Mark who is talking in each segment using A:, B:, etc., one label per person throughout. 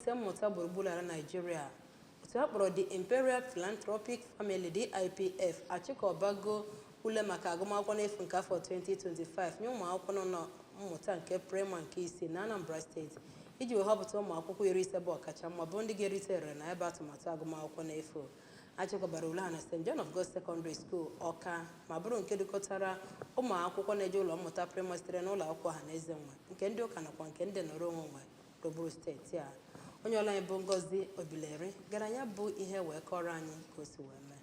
A: Ise mmụta gburugburu ala Naịjirịa otu a kpọrọ The Imperial Philanthropic Family DIPF achịkọbago ule maka agụmakwụkwọ n'efu nke afọ 2025 nye ụmụakwụkwọ nọ na mmụta nke praịmarị nke isii na Anambra steeti iji wee họpụta ụmụakwụkwọ iri ise bụ ọkacha mma bụ ndị ga-erite erere na ebe atụmatụ agụmakwụkwọ n'efu achịkọbara ule a na St John of God Secondary School Ọka ma bụrụ nke dọkọtara ụmụ akwụkwọ na-eje ụlọ mmụta praịmarị sitere n'ụlọ akwụkwọ ọha na eze nwe nke ndị ụka nakwa nke ndị nọrọ onwe nwe gburugburu steeti a onye ọlụ anyị bụ ngozi obileri gara ya bụ ihe wee kọọrọ anyị ka o si wee mee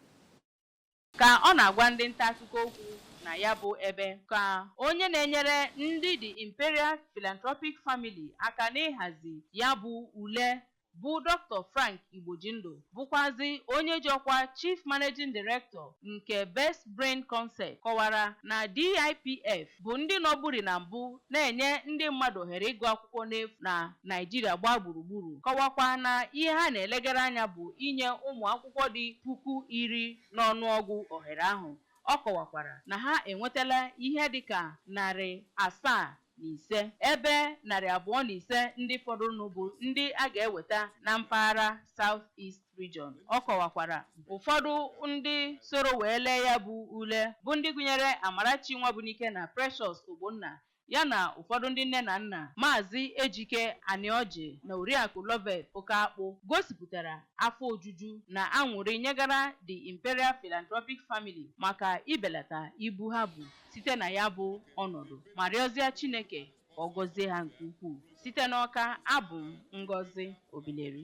A: ka
B: ọ na-agwa ndị nta akụkọ okwu na ya bụ ebe ka onye na-enyere ndị the imperial philanthropic family aka n'ịhazi ya bụ ule bụ dr frank igbojindụ bụkwazị onye ji ọkwa Chief Managing Director nke Best Brain Contest kọwara na DIPF bụ ndị nọburi na mbụ na-enye ndị mmadụ ohere ịgụ akwụkwọ n'efu na Naịjirịa gbaa gburugburu, kọwakwa na ihe ha na-elegara anya bụ inye ụmụ akwụkwọ dị puku iri n'ọnụọgụ ohere ahụ. Ọ kọwakwara na ha enwetala ihe dịka narị asaa na ise. Ebe narị abụọ na ise ndị fọdụrụnụ bụ ndị a ga-eweta na mpaghara South East Region. Ọ kọwakwara ụfọdụ ndị soro wee lee ya bụ ule bụ ndị gụnyere Amarachi Nwabunike na Precious Ogbonna ya na ụfọdụ ndị nne na nna, Maazị Ejike Aniọjị na Oriakụ Loveth Okeakpụ gosipụtara afọ ojuju na añụrị nyegara The Imperial Philanthropic Family maka ibelata ibu ha bu. site na ya bụ ọnọdụ ma rịọzịa Chineke ka ọ gọzie ha nke ukwuu site n'Ọka abụ m Ngozi Obileri.